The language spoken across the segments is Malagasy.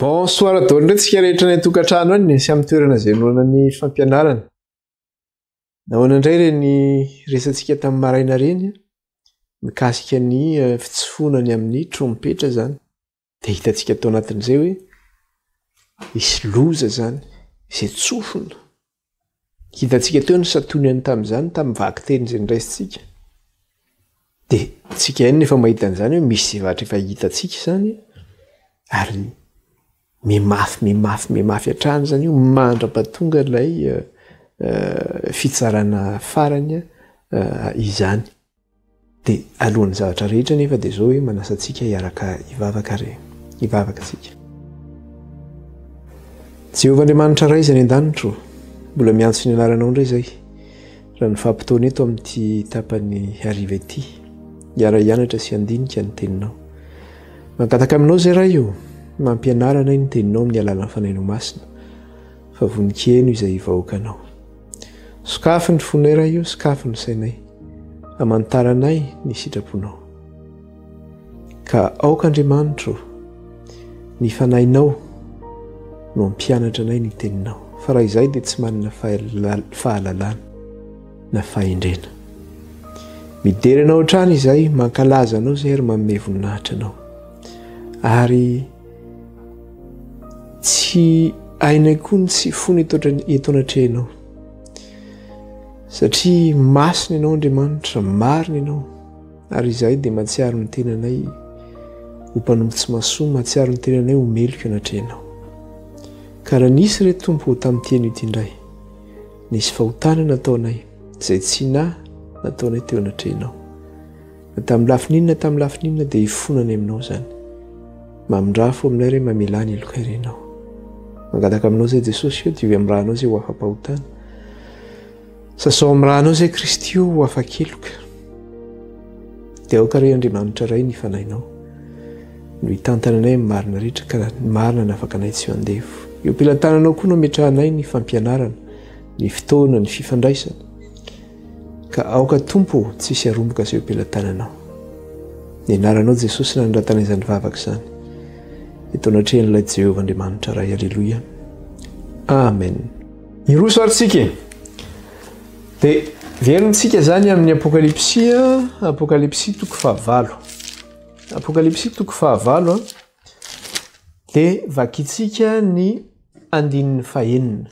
Bonsoir daholo indray tsika rehetra any an-tokantrano any sy amin'ny toerana izay noana ny fampianarana. Nahoana indray ireny resantsika tamin'ny maraina ireny mikasika ny eh, fitsofoana ny amin'ny trompetra izany. Dia hitantsika tao anatin'izay hoe hisy loza izany izay tsofina. Hitantsika teo ny santonihany tamin'izany tamin'ny vakiteny izay niraisintsika. Dia tsika ihany nefa mahita an'izany hoe misy zavatra efa hitantsika izany ary mimafy mimafy mimafy hatrany izany io mandra-pahatonga ilay eh, eh, fitsarana farany eh, izany. Dia alohan'ny zavatra rehetra anefa dia izao hoe manasa antsika hiaraka hivavaka ary hivavaka isika. Jehovah Andriamanitra Ray izay any an-danitra ô, mbola miantso ny anaranao indray izay raha ny fahampotoana eto amin'ity tapany hariva ity hiara-hianatra sy handinika ny teninao. Mangataka aminao izay Ray ô, mampianara anay ny teninao amin'ny alalan'ny fanainao masina fa vonon-kiheno izay vahoakanao. Sokafy ny fonay Ray o, sokafy ny sainay, amantaranay ny sitraponao. Ka aoka Andriamanitra o, ny fanahinao no hampianatra anay ny teninao, fa raha izay dia tsy manana fahalalana na fahendrena. Midera anao hatrany izay, mankalaza anao izay ary manome voninahitra anao. Ary Tsy hainay koa ny tsy fony eto anatrehanao, satria masina ianao Andriamanitra, marina ianao, ary izahay dia mahatsiaro ny tenanay ho mpanompo tsy mahasoa, mahatsiaro ny tenanay ho meloka eo anatrehanao. Ka raha nisy re Tompo ho tamin'ity anio ity indray, nisy fahotana nataonay, izay tsy nahy nataonay teo anatrehanao. Tamin'ny lafiny inona tamin'ny lafiny inona dia hifona any aminao izany. Mamindrà fo aminay re mamelà ny helokay re ianao. Mangataka aminao izay Jesosy eo, diovy amin'ny rànao izay ho afa-pahotana. Sasao amin'ny rànao izay Kristy eo ho afa-keloka. Dia aoka re Andriamanitra Ray ny fanahinao no hitantana anay amin'ny marina rehetra ka ny marina no afaka anay tsy ho andevo. Eo am-pelatananao koa no ametrahanay ny fampianarana, ny fotoana, ny fifandraisana. Ka aoka Tompo ô tsy hisy haromboka izay eo am-pelatananao. Ny anaranao Jesosy nanandratana izany vavaka izany. Eto anatrehan'ilay Jehovah Andriamanitra Ray. Aleloia. Amen. Hiroso ary tsika e. Dia verontsika izany amin'ny Apokalypsy, Apokalypsy toko fahavalo. Apokalypsy toko fahavalo a. Dia vakintsika ny andininy fahenina.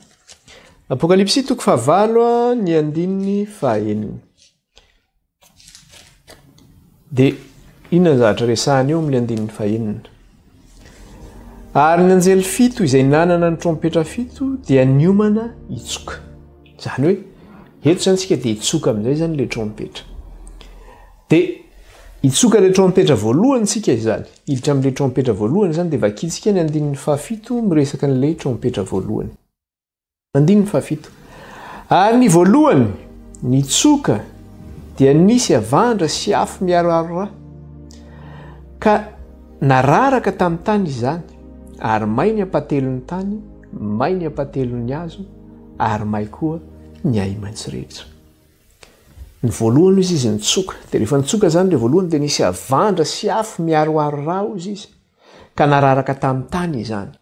Apokalypsy toko fahavalo ny andininy fahenina. Dia inona ny zavatra resahany eo amin'ny andininy fahenina? Ary ny anjely fito izay nanana ny trompetra fito dia niomana hitsoka. Izany hoe, eto izany isika dia hitsoka amin'izay izany ilay trompetra. Dia hitsoka ilay trompetra voalohany isika izany. Hiditra amin'ilay trompetra voalohany izany, dia vakintsika ny andininy fahafito miresaka an'ilay trompetra voalohany. Andininy fahafito. Ary ny voalohany, nitsoka, dia nisy havandra sy afo miharoharo ra, ka nararaka tamin'ny tany izany, ary may ny ampahatelon'ny tany, may ny ampahatelon'ny hazo, ary may koa ny ahi-maitso rehetra. Ny voalohany hoy izy izy nitsoka, dia rehefa nitsoka izany ilay voalohany dia nisy havandra sy afo miharoharo ra hoy izy izy ka nararaka tamin'ny tany izany.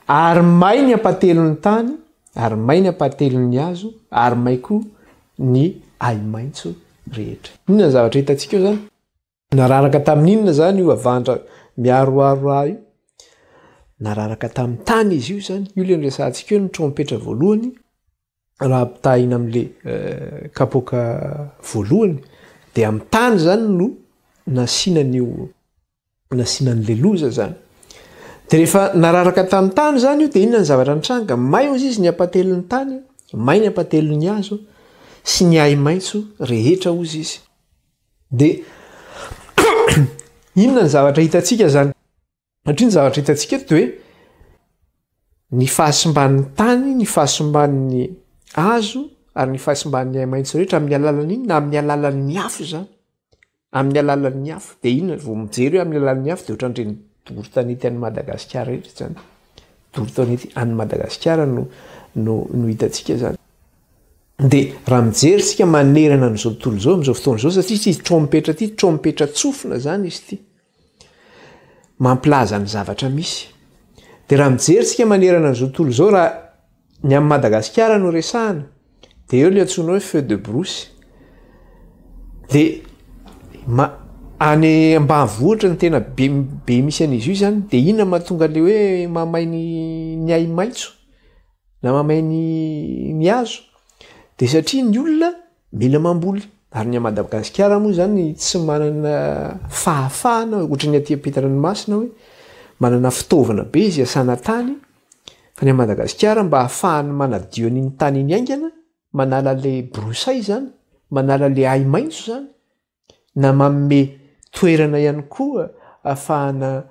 Ary may ny ampahatelon'ny tany, ary may ny ampahatelon'ny hazo, ary may koa ny ahi-maitso rehetra. Inona ny zavatra hitantsika eo izany? Nararaka tamin'ny inona izany io havandra miaroaro rà io? Nararaka tamin'ny tany izy io izany. Io ilay noresahantsika eo ny trompetra voalohany, raha ampitahaina amin'ilay kapoaka voalohany, dia amin'ny tany izany no nasiana an'io, nasiana an'ilay loza izany. Dia rehefa nararaka tamin'ny tany izany io dia inona ny zavatra nitranga? May hozy izy ny hampatelin'ny tany, may ny hampatelin'ny hazo sy ny ahi-maitso rehetra hozy izy. Dia inona ny zavatra hitantsika izany? Satria ny zavatra hitantsika eto dia hoe ny fahasimban'ny tany, ny fahasimban'ny hazo ary ny fahasimban'ny haimaitso rehetra amin'ny alalan'ny inona? Amin'ny alalan'ny afo izany. Amin'ny alalan'ny afo. Dia inona vao mijery hoe amin'ny alalan'ny afo dia ohatran'ireny doro tanety an'i Madagasikara rehetra izany. Doro tanety an'i Madagasikara no no no hitantsika izany. Dia raha mijery isika manerana an'izao tontolo izao, amin'izao fotoana izao, satria tsy trompetra ity, trompetra tsofina izany izy ity. Mampilaza ny zavatra misy. Dia raha mijery isika manerana an'izao tontolo izao, raha ny amin'i Madagasikara no resahana, dia eo ilay antsoina hoe feu de brousse. Dia ma- any ambanivohitra no tena be be misy an'izy io izany, dia inona no mahatonga ilay hoe mahamay ny ny ahi-maitso? Na mamay ny ny hazo de satria ny olona mila mamboly ary ny a Madagasikara moa zany tsy manana fahafahana ohatra ny aty ampitandranomasina hoe manana fitaovana be izy iasana tany fa ny a Madagasikara mba hahafahany manadio an'iny tany iny haingana manala le broussailles zany manala le ahi-maitso zany na manome toerana ihany koa afahana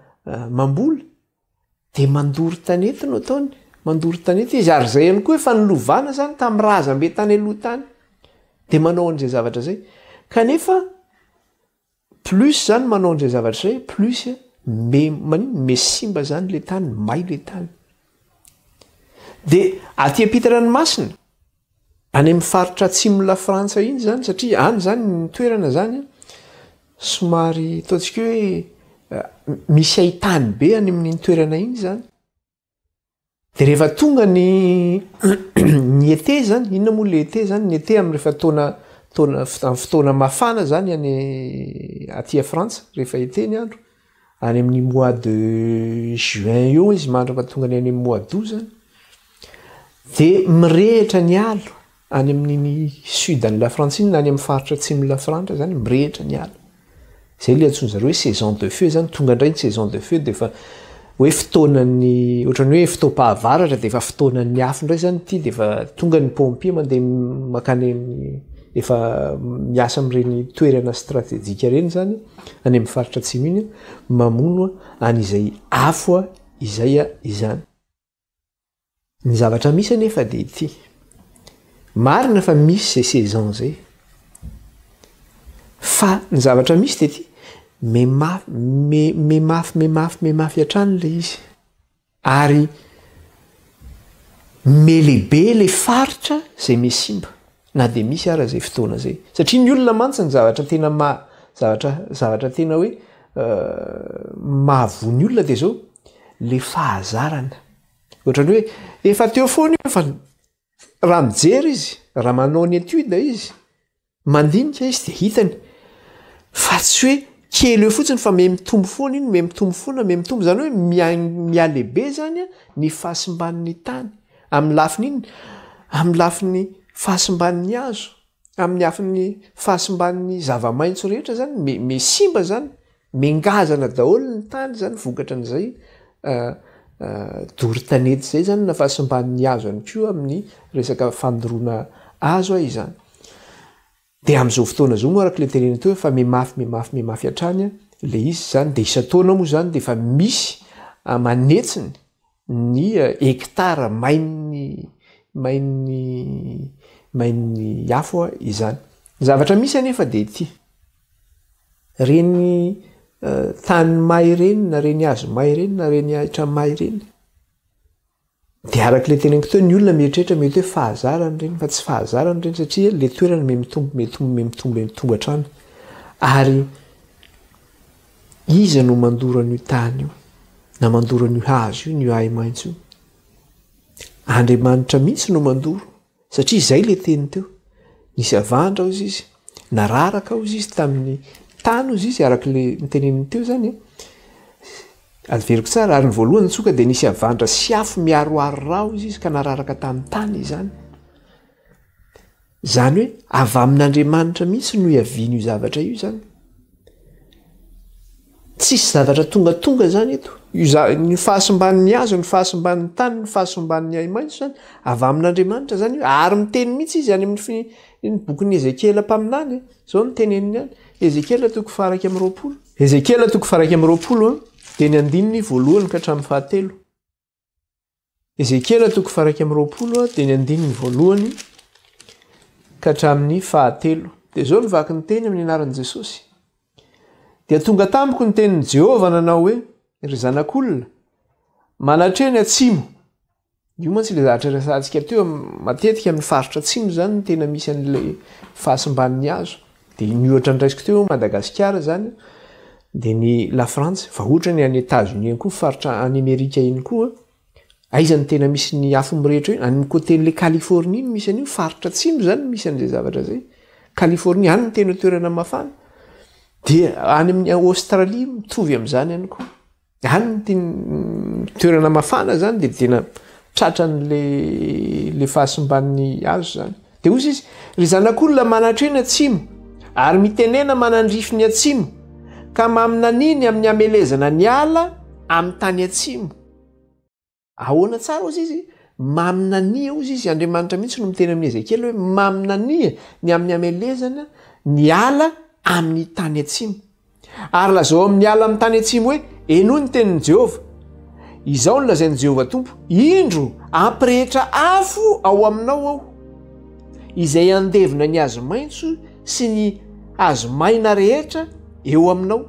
mamboly dia mandoro tanety no ataony mandoro tanety izy ary zay ihany koa efa nilovana zany tamin'ny razambe tany aloha tany dia manao an'izay zavatra zay kanefa plus zany manao an'izay zavatra zay plus me maniny me simba zany le tany may le tany dia aty am-pitandranomasina Any amin'ny faritra atsimon'i Lafrantsa iny izany, satria any izany ny toerana izany somary ataontsika hoe misy hain-tany be any amin'iny toerana iny izany. Dia rehefa tonga ny ny été izany, inona moa ilay été izany? Ny été amin'ny rehefa taona taona amin'ny fotoana mafana izany any aty Frantsa, rehefa été ny andro. any amin'ny mois de juin io izy mandra fa tonga any any mois d'aout zany de mirehitra ny alo any amin'ny sud an'i lafrantsiny na any amin'ny faritra atsimon'i lafrantsa zany mirehitra ny alo zay le antsoin'zareo hoe saison de feu zany tonga indray ny saison de feu defa hoe fotoanan'ny ohatran'ny hoe fotoam-pahavaratra defa fotoanan'ny afo indray zany ity defa tonga ny pompier mandeha makany amin'ny efa miasa amin'ireny toerana stratejika ireny zany Any amin'ny faritra atsimo iny mamono any izay afo izay izany. Ny zavatra misy anefa dia ity. Marina fa misy izay saison izay. Fa ny zavatra misy dia ity, memafy, memafy, memafy, memafy hatrany ilay izy. Ary melebe ilay faritra izay mey simba na dia misy ara izay fotoana izay. Satria ny olona mantsy ny zavatra tena maha zavatra zavatra tena hoe mahavoa ny olona dia izao ilay fahazarana. Ohatran'ny hoe efa teo foana io fa raha mijery izy, raha manao ny étude izy. Mandinika izy dia hitany fa tsy hoe kely eo fotsiny fa mihamitombo foana iny, mihamitombo foana, mihamitombo, izany hoe mihalehibe izany ny fahasimban'ny tany amin'ny lafiny inona? Amin'ny lafiny fahasimban'ny hazo, amin'ny lafiny fahasimban'ny zava-maitso rehetra izany, miha simba izany. Mengazana daholo ny tany zany vokatra an'izay doro tanety zay zany na fahasimban'ny hazo ihany koa amin'ny resaka fandoroana hazo a izany. De am'zao fotoana zao moa araka le tenenina teo efa mimafy mimafy mimafy hatrany le izy zany de isan-taona moa zany de efa misy manetsiny ny hectare main'ny main'ny main'ny afo izany. Ny zavatra misy anefa dia ity, ireny tany may ireny na ireny hazo may ireny na ireny ahitra may ireny dia araka ilay teneniko teo ny olona mieritreritra mety hoe fahazarany ireny fa tsy fahazarany ireny satria ilay toerana me mitombo me mitombo me mitombo me mitombo hatrany ary Iza no mandoro an'io tany io, na mandoro an'io hazo io, an'io ahi-maitso io? Andriamanitra mihitsy no mandoro, satria izay ilay teny teo. Nisy havandra hozy izy, nararaka hozy izy tamin'ny tany hozy izy, araka ilay noteneniny teo izany e. Averiko tsara, ary ny voalohany nitsoka dia nisy havandra sy afo miaroaro ra hozy izy ka nararaka tamin'ny tany izany. Izany hoe avy amin'Andriamanitra mihitsy no iavian'io zavatra io izany. Tsisy zavatra tongatonga izany eto. Ny fahasimban'ny hazo, ny fahasimban'ny tany, ny fahasimban'ny ahi-maitso izany, avy amin'Andriamanitra izany io. Ary miteny mihitsy izy any amin'ny bokin'i Ezekiela mpaminany e. Izao no teneniny any. Ezekiela toko faha-iraika amby roapolo. Ezekiela toko faha-iraika amby roapolo, dia ny andininy voalohany ka hatramin'ny fahatelo. Ezekiela toko faraika amin'ny roapolo dia ny andininy voalohany ka hatramin'ny fahatelo. Dia izao ny vaky ny teny amin'ny anaran'i Jesosy. Dia tonga tamiko ny tenin'i Jehovah nanao hoe, ry zanak'olona, manatre ny atsimo. Io mantsy ilay zavatra resahantsika teo matetika amin'ny faritra atsimo izany tena misy an'ilay fahasimban'ny hazo. Dia ny ohatra noraisiko teo Madagasikara izany dia ny Lafrantsa, fa ohatra ny any Etats-Unis any koa faritra any Amerika iny koa, aiza no tena misy ny afo mirehitra io? Any amin'ny côté-n'ilay Californie no misy an'io, faritra atsimo izany no misy an'izay zavatra izay. Californie, any no tena toerana mafana. Dia any amin'ny Australie mitovy amin'izany ihany koa. Any ny toerana mafana zany dia tena tratran'le le fahasimban'ny azo zany. Dia hozy izy, ry zanak'olona manatrena atsimo, ary mitenena manandrify ny atsimo, ka maminaniny amin'ny hamelezana ny ala amin'ny tany atsimo. Ahoana tsara hozy izy? Maminania hozy izy, Andriamanitra mihitsy no miteny amin'i Ezekiela hoe maminania ny amin'ny hamelezana ny ala amin'ny tany atsimo. Ary lazao amin'ny ala amin'ny tany atsimo hoe, Enoy ny tenin'i Jehovah. Izao no lazain'i Jehovah Tompo, Indro, hampirehetra afo ao aminao aho, izay handevona ny hazo maitso sy ny hazo maina rehetra eo aminao.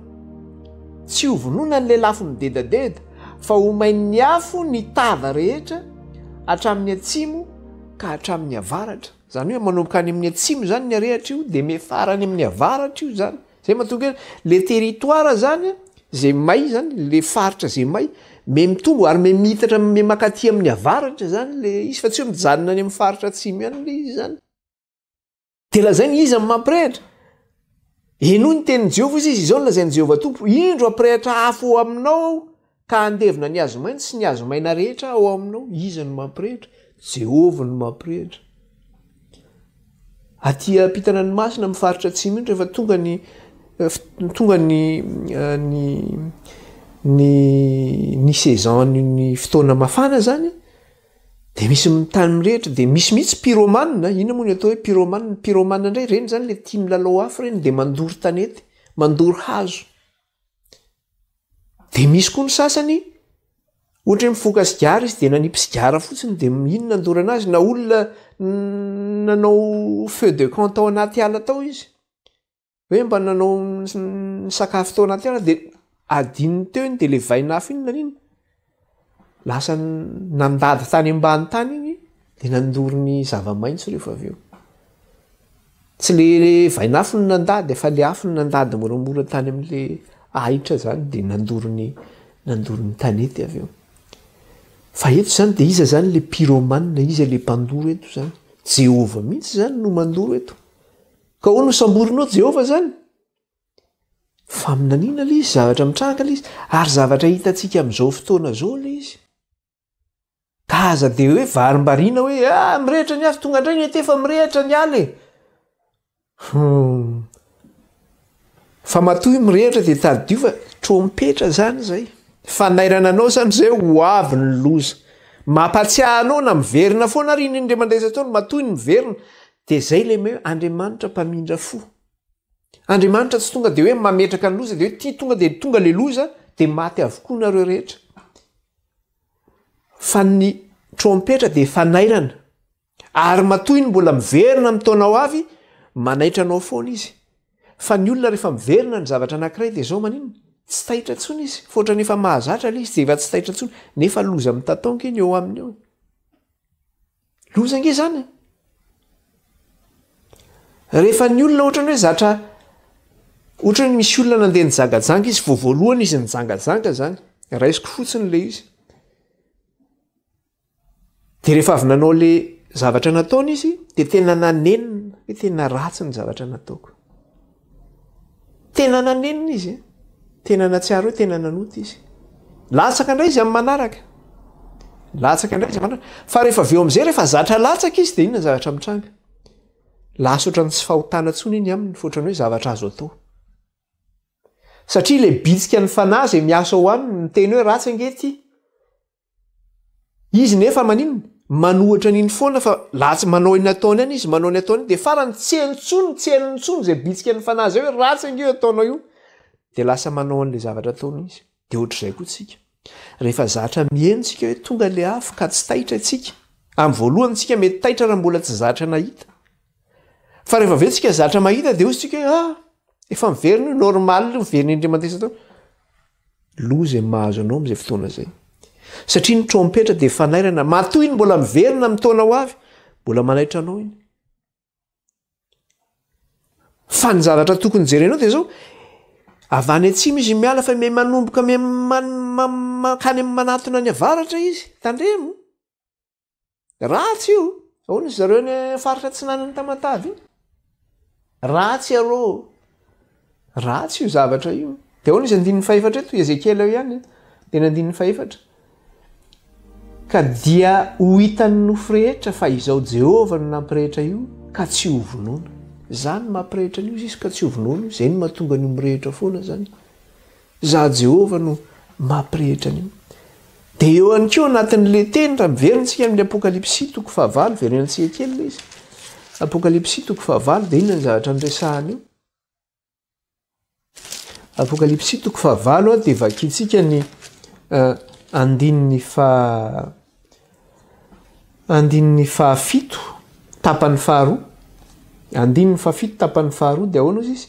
Tsy ho vonoina ny lelafo midedadeda, fa ho main'ny afo ny tava rehetra hatramin'ny atsimo ka hatramin'ny avaratra. Izany hoe manomboka any amin'ny atsimo izany ny harehatra io dia miafara any amin'ny avaratra io izany. Izay mahatonga hoe ilay territoire izany izay may izany, ilay faritra izay may, may mitombo ary may miitatra, may mankaty amin'ny avaratra izany ilay izy fa tsy hoe mijanona any amin'ny faritra atsimo ihany ilay izy izany. Dia lazainy iza no mampirehitra? Henoy ny tenin'i Jehovah izy, izy izao no lazain'i Jehovah Tompo, Indro hampirehitra afo ao aminao aho, ka handevina ny hazo maitso sy ny hazo maina rehetra ao aminao. Iza no mampirehitra? Jehovah no mampirehitra. Aty ampitana ny masina amin'ny faritra atsimo iny rehefa tonga ny eh, tonga ny eh, ny ny ny saison ny fotoana mafana zany Dia misy ny tany mirehitra dia misy mihitsy pyromane, inona moa ny atao hoe pyromane, ny pyromane indray ireny izany ilay tia milalao afo ireny dia mandoro tanety, mandoro hazo. Dia misy koa ny sasany ohatra hoe mifoka sigara izy dia nanipy sigara fotsiny dia iny nandorana azy na olona nanao feu de camp tao anaty ala tao izy. hoe mba nanao ny sakafo tao anaty ala dia adininy teo iny dia le vaina afo iny nanina lasa nandady tany ambany tany iny dia nandoro ny zava-maitso rehefa avy eo tsy le vaina afo ny nandady efa le afo ny nandady moramora tany amin'le ahitra zany dia nandoro ny nandoro ny tanety avy eo fa eto zany dia iza zany le pyromane iza le mpandoro eto zany jehovah mihitsy zany no mandoro eto Ka hoy no samborinao Jehovah izany? Faminaniana ilay izy, zavatra mitranga ilay izy, ary zavatra hitantsika amin'izao fotoana izao ilay izy. Ka aza dia hoe varimbariana hoe ah, mirehitra ny afo, tonga indray ny ete fa mirehitra ny ala e. Hmm. Fa matoy mirehitra dia tadidio fa trompetra izany izay. Fanairana anao izany izay ho avy ny loza. Mampatsiahy anao na miverina foana ary iny indray mandeha izay ataony matoy ny miverina Dia zay le me Andriamanitra mpamindra fo. Andriamanitra tsy tonga de hoe mametraka ny loza de hoe ty tonga de tonga le loza de maty avokoa nareo rehetra. Fa ny trompetra de fanairana. Ary matoa iny mbola miverina amin'ny taona ho avy, manaitra anao foana izy. Fa ny olona rehefa miverina ny zavatra anankiray de zao maninona? Tsy taitra intsony izy, fa ohatrany efa mahazatra le izy de efa tsy taitra intsony, nefa loza mitataonka iny eo aminy eo. Loza ange zany e! Rehefa ny olona ohatrany hoe zatra ohatrany hoe misy olona nandeha nijangajanga izy vao voalohany izy nijangajanga zany raisiko fotsiny le izy de rehefa avy nanao le zavatra nataony izy de tena nanenina hoe tena ratsy ny zavatra nataoko Tena nanenina izy e! Tena nahatsiaro hoe tena nanota izy. Latsaka indray izy amin'ny manaraka. Latsaka indray izy amin'ny manaraka. Fa rehefa avy eo amin'izay, rehefa zatra latsaka izy dia inona ny zavatra mitranga? Lasa ohatran'ny tsy fahotana intsony iny aminy fa ohatran'ny hoe zavatra azo atao. Satria ilay bitsikan'ny fanahy izay miasa ao aminy miteny hoe ratsy ange ity. Izy nefa maninona? Manohitra an'iny foana fa latsy manao iny ataony any izy, manao ny ataony dia farany tsy eny intsony, tsy henony intsony izay bitsika ny fanahy izay hoe ratsy ange io ataonao io. Dia lasa manao an'ilay zavatra ataony izy. Dia ohatr'izay koa isika. Rehefa zatra miheno isika hoe tonga ilay afo ka tsy taitra isika. Amin'ny voalohany isika mety taitra raha mbola tsy zatra nahita. Fa rehefa ve tsika zatra mahita dia hozy tsika hoe ah efa miverina io normal io miverina indray mandeha isan-taona. Loza izay mahazo anao amin'izay fotoana izay. Satria ny trompetra dia fanairana, matoa iny mbola miverina amin'ny taona ho avy, mbola manaitra anao iny. Fa ny zavatra tokony jerenao dia izao, avy any atsimo izy miala fa me manomboka me mankany amin'ny manatona any avaratra izy, tandremo. Ratsy io! Ahoana izy ireo any faritra atsinanan'i Tamatave iny? Ratsy iarô! Ratsy io zavatra io. Dia ahoana izy andininy fahefatra eto? Ezekiela eo ihany, teny andininy fahefatra. Ka dia ho hitan'ny nofo rehetra fa izao Jehovah no nampirehitra io ka tsy hovonoina. Izaho no mampirehitra an'io, izy ka tsy hovonoina. Izay no mahatonga an'io mirehitra foana izany. Izaho Jehovah no mampirehitra an'io. Dia eo ihany koa anatin'ilay teny, raha miverina isika amin'ny Apokalypsy toko fahavalo, verenantsika kely ilay izy. Apokalypsy toko fahavalo, dia inona ny zavatra niresahana eo? Apokalypsy toko fahavalo, dia vakintsika ny uh, andininy faha Andininy fahafito tapany faharoa Andininy fahafito tapany faharoa dia ahoana hozy izy?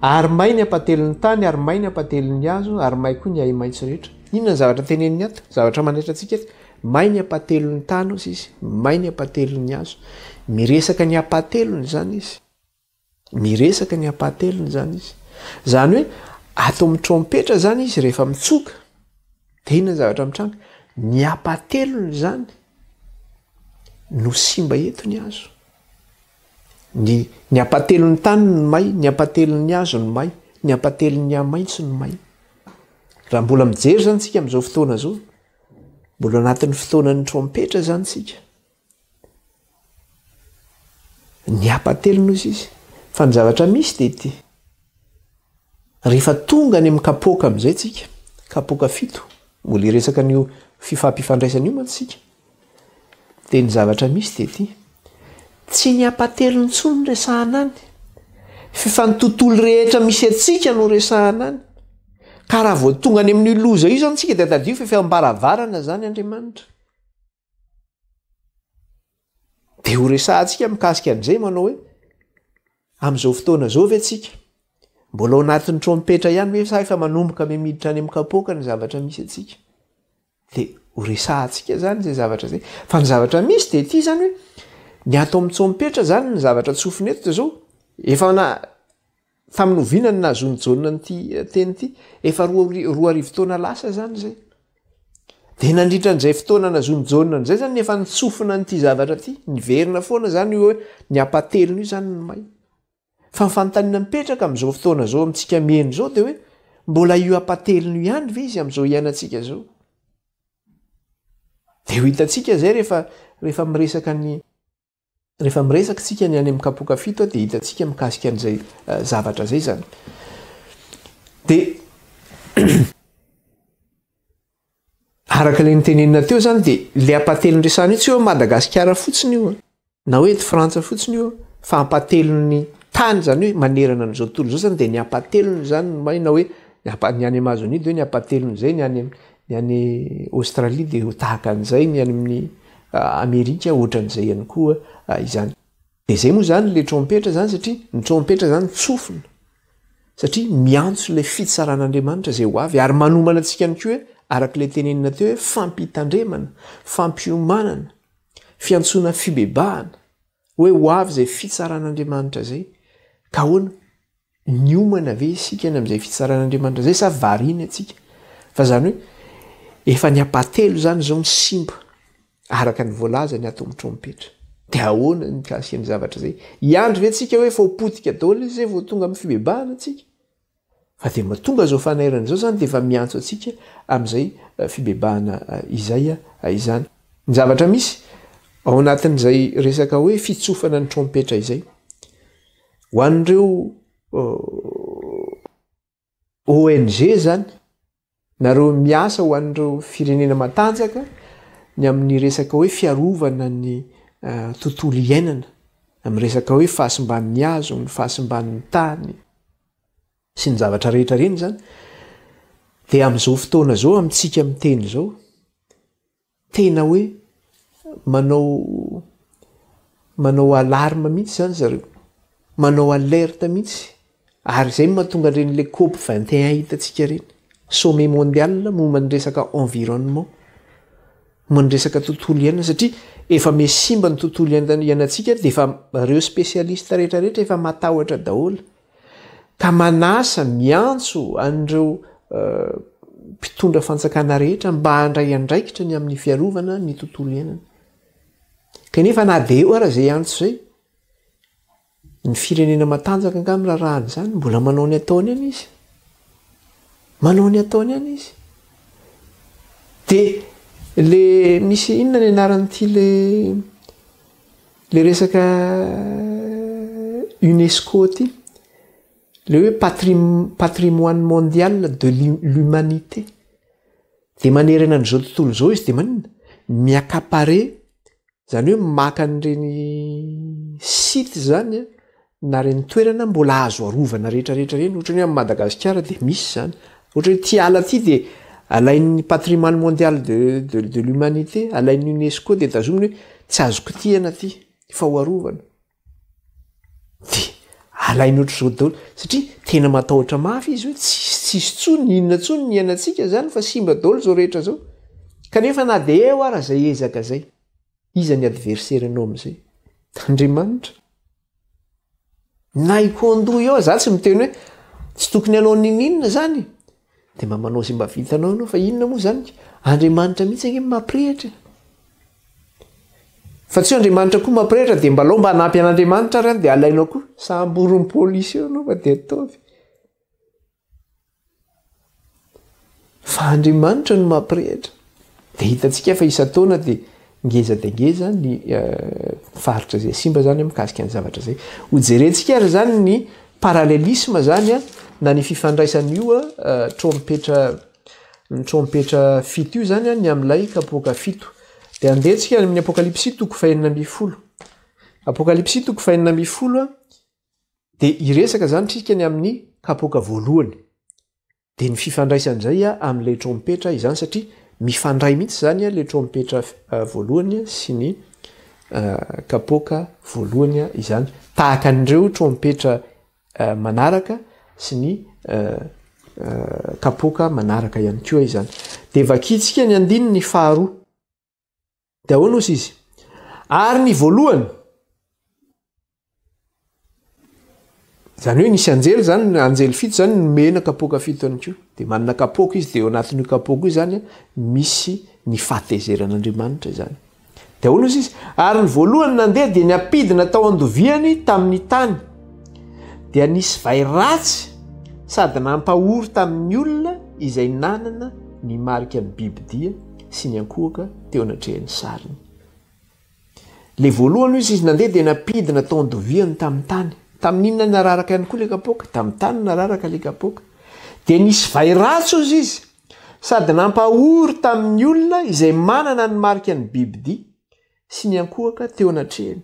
Ary may ny hampately ny tany ary may ny hampately ny hazo ary may koa ny ahi-maitso rehetra. Inona ny zavatra teneniny ato? Zavatra manaitra antsika ato. May ny hampately ny tany hozy izy, may ny hampately ny hazo. Miresaka ny hampatelony izany izy. Miresaka ny ampahatelony izany izy. Izany hoe ato amin'ny trompetra izany izy rehefa mitsoka. Dia inona ny zavatra mitranga? Ny ampahatelony izany no simba eto ny hazo. Ny, ny ampahatelon'ny tany ny may, ny ampahatelon'ny hazo ny may, ny ampahatelon'ny hamaitso ny may. Raha mbola mijery izany isika amin'izao fotoana izao, mbola anatin'ny fotoanan'ny trompetra izany isika. Niapa-telo nosy izy. Fa ny zavatra misy dia ity, rehefa tonga any amin'ny kapoaka amin'izay tsika, kapoaka fito, mbola hiresaka an'io fifampifandraisana io mantsy isika, dia ny zavatra misy dia ity, tsy ny apa-telo intsony no resahana any, fa ny tontolo rehetra misy antsika no resahana any. Ka raha vao tonga any amin'io loza io izany isika dia tadidio fa efa eo am-baravarana izany Andriamanitra. Dia ho resahantsika mikasika an'izay manao hoe amin'izao fotoana izao ve tsika mbola ao anatin'ny trompetra ihany ve sa efa manomboka me miditra any amin'ny kapoaka ny zavatra misy atsika. Dia ho resahantsika izany izay zavatra izay. Fa ny zavatra misy dia ity izany hoe ny ato amin'ny trompetra izany ny zavatra tsofina eto dia izao efa na Tamin'ny oviana no nahazoan'i Jaona an'ity teny ity? Efa roa roa arivo taona lasa izany izay. Dia nandritra an'izay fotoana nahazoan'i Jaona an'izay izany efa nitsofina an'ity zavatra ity. Niverina foana izany io hoe ny hampatelina io izany ny may. Fa ny fanontaniana mipetraka amin'izao fotoana izao amintsika mihaino izao dia hoe mbola io hampatelina io ihany ve izy amin'izao iainantsika izao? Dia ho hitantsika izay rehefa rehefa miresaka ny Rehefa miresaka isika ny any amin'ny kapoka fito dia hitantsika mikasika an'izay eh, zavatra izay izany. Dia araka ilay nitenenina teo izany dia ilay ampahatelon'ny resahana io tsy hoe Madagasikara fotsiny io na hoe eto Frantsa fotsiny io fa ampahatelon'ny tany izany hoe manerana an'izao tontolo izao izany dia ny ampahatelony izany maina hoe ny any Amazonie dia hoe ny ampahatelony izay ny any Ny any Aostralia dia tahaka an'izay, ny any amin'ny Amerika ohatran'izay ihany koa izany. Dia izay moa izany ilay trompetra izany satria ny trompetra izany tsofina satria miantso ilay fitsaran'Andriamanitra izay ho avy ary manomana antsika ihany koa araka ilay tenenina teo hoe fampitandremana, fampiomanana, fiantsoana fibebahana hoe ho avy izay fitsaran'Andriamanitra izay. Ka ahoana? Niomana ve isika any amin'izay fitsaran'Andriamanitra izay sa variana antsika? Fa izany hoe efa ny ampatelo izany izao no simba araka ny voalazany ato amin'ny trompetra. Dia ahoana ny mikasikan'ny zavatra izay? Hiandry ve isika hoe efa ho potika daholo izay vao tonga amin'ny fibebahana isika? Fa dia mba tonga izao fanairana izao izany dia efa miantso antsika amin'izay fibebahana izay izany. Ny zavatra misy ao anatin'izay resaka hoe fitsofana ny trompetra izay. Ho an'ireo ONG izany, nareo miasa ho an'ireo firenena matanjaka ny amin'ny resaka hoe fiarovana ny tontolo iainana, amin'ny resaka hoe fahasimban'ny hazo, ny fahasimban'ny tany sy ny zavatra rehetra ireny izany dia amin'izao fotoana izao amintsika miteny izao, Tena hoe manao manao alarme mihitsy izany zareo, manao alerte mihitsy ary izay no mahatonga an'ireny le cop 21 hitantsika ireny, sommet mondial momba ny resaka environnement, momba ny resaka tontolo iainana satria efa miha simba ny tontolo iainantsika dia efa ireo specialiste rehetra rehetra efa matahotra daholo. ka manasa, miantso an'ireo mpitondra fanjakana rehetra mba handray andraikitra ny amin'ny fiarovana ny tontolo iainana. Kanefa na dia eo ara izay antso izay, ny firenena matanjaka angaha mirarahana izany, mbola manao ny ataony ihany izy. Manao ny ataony ihany izy. Dia le misy inona ny anaran'ity le Le resaka UNESCO ty, le hoe patrimoine mondial de l'humanité, dia manerana an'izao tontolo izao izy dia maninona? mi-accaparer, izany hoe maka an'ireny sites izany an, na reny toerana mbola azo arovana rehetra rehetra reny otrany hoe am Madagasikara dia misy zany otrany hoe ty ala ty dia alain'ny patrimoine mondial de de de l'humanité alain'ny UNESCO dia tazominy hoe tsy azo kitihana ty fa ho arovana de alainy ohatr'izao daholo satria tena matahotra mafy izy hoe tsisy tsisy tsony inona tsony ny iainantsika zany fa simba daholo zao rehetra zao kanefa na dia eo ara zay ezaka zay Iza ny adversaire nao amzay? Andriamanitra? Nay ko andoha eo za tsy miteny hoe tsy tokony anao nininona zany e! de mba manao zay mba vitanao anao fa inona moa zany ka? Andriamanitra mihitsy ange mampirehitra e! Fa tsy hoe Andriamanitra koa mampirehitra de mbalao mba hanampy an'Andriamanitra ary an de alainao koa, samborin'ny police eo anao fa de ataovy. Fa Andriamanitra no mampirehitra. Dia hitantsika fa isan-taona dia ngeza dia ngeza ny faritra izay simba izany mikasika ny zavatra izay. Hojerentsika ary izany ny parallelisme izany na ny fifandraisan'io trompetra ny trompetra fito io izany ny amin'ilay kapoaka fito. Dia andeha isika any amin'ny Apokalypsy toko fahenina ambin'ny folo. Apokalypsy toko fahenina ambin'ny folo. Dia hiresaka izany isika ny amin'ny kapoaka voalohany. Dia ny fifandraisany izay amin'ilay trompetra izany satria mifandray mihitsy izany ilay trompetra voalohany sy ny kapoaka voalohany izany. Tahaka an'ireo trompetra manaraka sy ny kapoaka manaraka ihany koa izany. Dia vakintsika ny andininy faharoa. Dia ahoana hozy izy? Ary ny voalohany, Zany hoe nisy anjely zany, ny anjely fito zany nomena kapoaka fito ihany koa. Dia manana kapoaka izy, dia eo anatin'io kapoaka io zany misy ny fahatezeran'Andriamanitra izany. Dia ahoana hozy izy? Ary ny voalohany nandeha dia niampidina tao andoviany tamin'ny tany. Dia nisy vay ratsy sady nampahory tamin'ny olona izay nanana ny marikan'ny bibidia. sy niankohoka teo anatrehan'ny sariny. Ilay voalohany hoy izy, izy nandeha dia nampidina tao andoviany tamin'ny tany. Tamin'inona nararaka ihany koa ilay kapoaka? Tamin'ny tany nararaka ilay kapoaka. Dia nisy vay ratsy hoy izy, sady nampahory tamin'ny olona izay manana ny marika ny bibidia sy niankohoka teo anatrehany.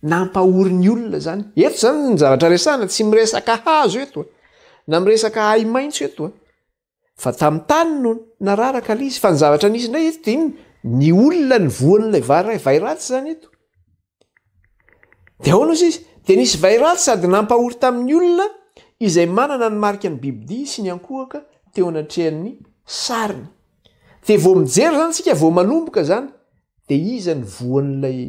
Nampahory ny olona izany. Eto izany ny zavatra resahana, tsy miresaka hazo eto, na miresaka ahi-maitso eto. fa tamin'ny tany no nararaka ilay izy fa ny zavatra nisy indray eto dia inona ny olona ny voan'ilay vary vay ratsy izany eto dia ahoana ozy izy dia nisy vay ratsy sady nampahory tamin'ny olona izay manana ny marika ny bibidia sy ny ankohoka teo anatrehan'ny sariny dia vao mijery izany tsika vao manomboka izany dia iza ny voan'ilay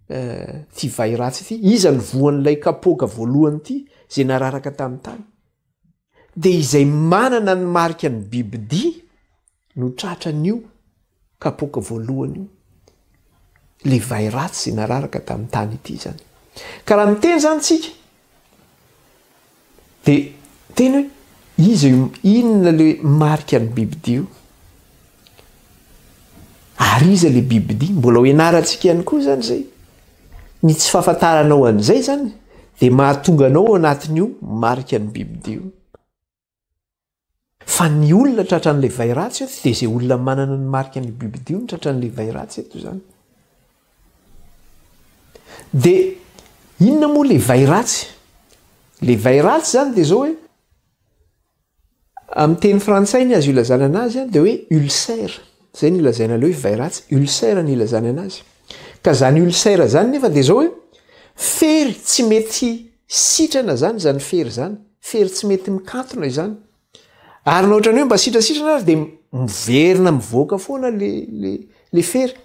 eh, ty vay ratsy ity iza ny voan'ilay kapoaka voalohany ity izay nararaka tamin'ny tany dia izay manana ny marika ny bibidia no tratra an'io kapoaka voalohany io, ilay vay ratsy nararaka tamin'ny tany ity izany. Ka raha miteny izany isika, dia teny hoe iza io, inona ilay marika ny bibidia io? Ary iza le bibidia? Mbola ho ianarantsika ihany koa izany izay. Ny tsy fahafantaranao an'izay izany dia mahatonga anao ao anatin'io marika ny bibidia io. Fa ny olona tratran'ilay vay ratsy eto dia izay olona manana ny marika ny bibidia io no tratran'ilay vay ratsy eto izany. Dia inona moa le vay ratsy? Le vay ratsy izany dia izao hoe Amin'ny teny frantsay ny azo ilazana anazy dia hoe ulcère, izay no lazaina aloha hoe vairatsy, ulcère no ilazany anazy. Ka izany ulcère izany nefa dia izao hoe fery tsy mety sitrana izany izany fery izany, fery tsy mety mikatona izany. Ary na ohatran'ny hoe mba sitrasitrana ary dia miverina mivoaka foana le le le fery.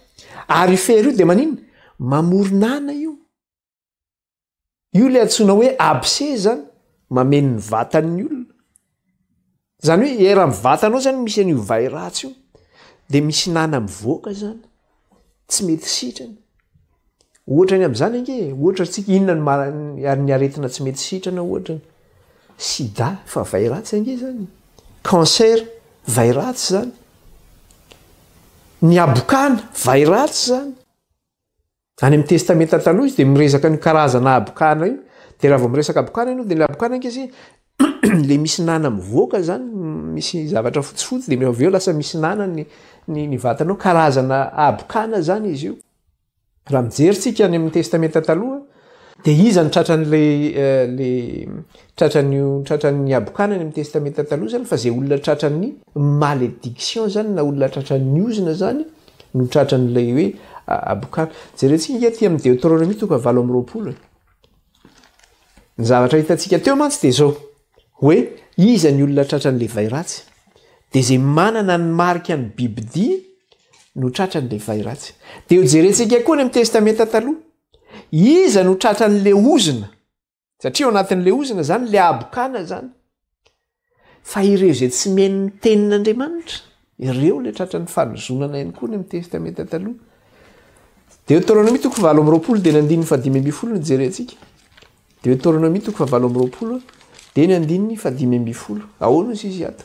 Ary io fery io dia maninona? Mamoron'ana io. Io ilay antsoina hoe abcès zany, mameno ny vatan'ny olona. Zany hoe eran'ny vatanao zany misy an'io vay ratsy io de misy nana mivoaka zany, tsy mety sitrana. Ohatra ny amin'izany ange e, ohatra antsika inona no maha- ny aretina tsy mety sitrana ohatra, sida fa vay ratsy ange zany, cancer vay ratsy zany, ny habokana vay ratsy zany. Any amin'ny Testamenta Taloha izy dia miresaka an'io karazana habokana io. Dia raha vao miresaka habokana ianao dia ilay habokana ange izay ilay misy nana mivoaka izany, misy zavatra fotsifotsy dia avy eo lasa misy nana ny ny ny vatanao, karazana habokana izany izy io. Raha mijery tsika any amin'ny Testamenta Taloha dia iza no tratran'ilay le tratran'io tratran'ny habokana any amin'ny Testamenta Taloha izany fa izay olona tratran'ny malédiction izany na olona tratran'ny ozona izany no tratran'ilay hoe abokana. Jerentsika ange aty amin'ny Deoteronomia toka valo amby roapolo e. Ny zavatra hitantsika teo mantsy dia izao hoe iza ny olona tratran'ilay vay ratsy dia izay manana ny marika ny bibidia no tratran'ilay vay ratsy. Dia ho jerentsika koa ny amin'ny Testamenta Taloha. Iza no tratran'ilay ozona? satria ao anatin'ilay ozona zany le abokana zany fa ireo izay tsy meno ny tenin'andriamanitra ireo le tratra ny fanozonana ihany koa ny amin'ny testamenta taloha deuteronomie toko valo amby roapolo dia ny andininy fadimy amby folo ny jery antsika deuteronomie toko vavalo amby roapolo dia ny andininy fadimy amby folo ahoana izy izy ato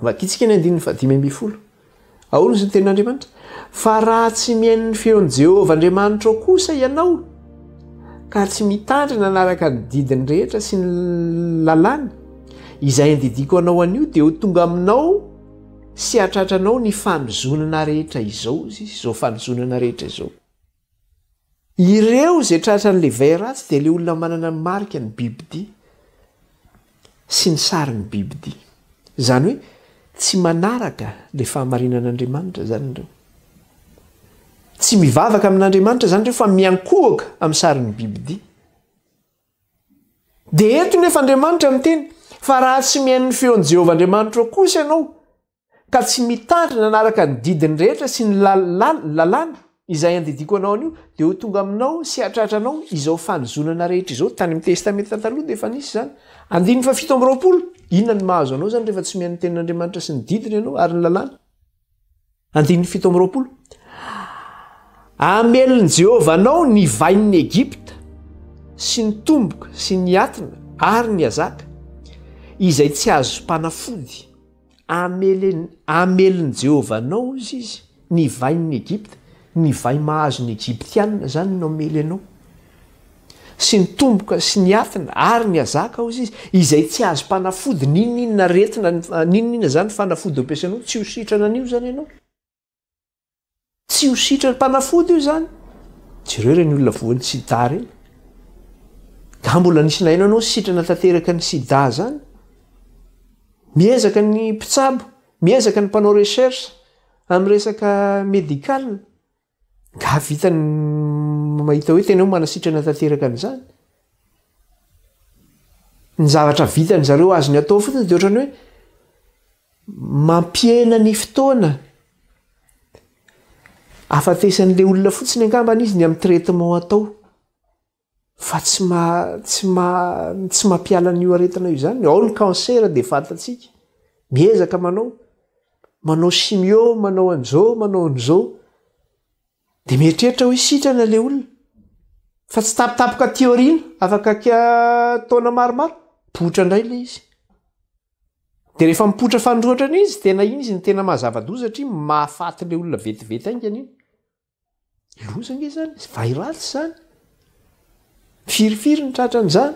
Vakintsika ny andininy fahadimy ambin'ny folo. Ahoana hozy ny tenin'Andriamanitra? Fa raha tsy mihaino ny feon'i Jehovah Andriamanitrao kosa ianao, ka tsy mitandrina hanaraka ny didiny rehetra sy ny lalàny, izay andidiako anao anio, dia ho tonga aminao sy hahatratranao ny fanozonana rehetra izao, hozy, izao fanozonana rehetra izao. Ireo izay tratran'ilay vay ratsy dia ilay olona manana ny marika ny bibidia sy ny sarin'ny bibidia. Izany hoe tsy manaraka ilay fahamarinan'Andriamanitra izany ireo. Tsy mivavaka amin'Andriamanitra izany ireo fa miankohoka amin'ny sarin'ny bibidia. Dia eto nefa Andriamanitra miteny fa raha tsy mihaino ny feon'i Jehovah Andriamanitrao kosa ianao, ka tsy mitandry nanaraka ny didiny rehetra sy ny lalàna izay andidiako anao anio, dia ho tonga aminao sy hahatratra anao izao fanozonana rehetra izao. Tany amin'ny Testamenta Taloha dia efa nisy izany. Andininy fahafito amby roapolo. Inona no mahazo anao izany rehefa tsy mihaino ny Tenin'Andriamanitra sy ny didiny ianao ary ny lalàna? Andininy fito amby roapolo. Hamelin'i Jehovah anao ny vain'ny Egypta sy ny tomboka sy ny atina ary ny hazaka izay tsy azom-panafody. Hamelin'i Jehovah anao, hoy izy, ny vain'i Egypta, ny vay mahazo ny Egyptiana izany no hamely anao, sy ny tomboka sy ny hafina ary ny hazaka, hoy izy, izay tsy azom-panafody, n'inon'inona aretina, n'inon'inona izany fanafody ampiasainao, tsy ho sitrana an'io izany ianao. Tsy ho sitrany mpanafody io izany. Jereo ireny olona voan'ny sida ireny. Nga mbola nisy naino anao sitrana tanteraka ny sida izany? Miezaka ny mpitsabo, miezaka ny mpanao recherche amin'ny resaka medical. Nga vitany mahita hoe tena hoe manasitrana tanteraka an'izany? Ny zavatra vitan'izareo azony atao fotsiny dia ohatran'ny hoe Mampihena ny fotoana ahafatesan'ilay olona fotsiny angambany izy ny amin'ny traitement atao fa tsy tsy mampiala an'io aretina io izany. Ao ny cancer dia fantatsika, miezaka manao, manao chimio, manao an'izao, manao an'izao. Dia mieritreritra hoe sitrana ilay olona, fa tsy tampotampoka aty aoriana, afaka taona maromaro, mipoitra indray ilay izy. Dia rehefa mipoitra fanindroatra indray izy, tena iny izy no tena maha zava-doza satria mahafaty ilay olona vetivety haingana iny. Loza ange izany, vay ratsy izany. Firifiry ny tratran'izany?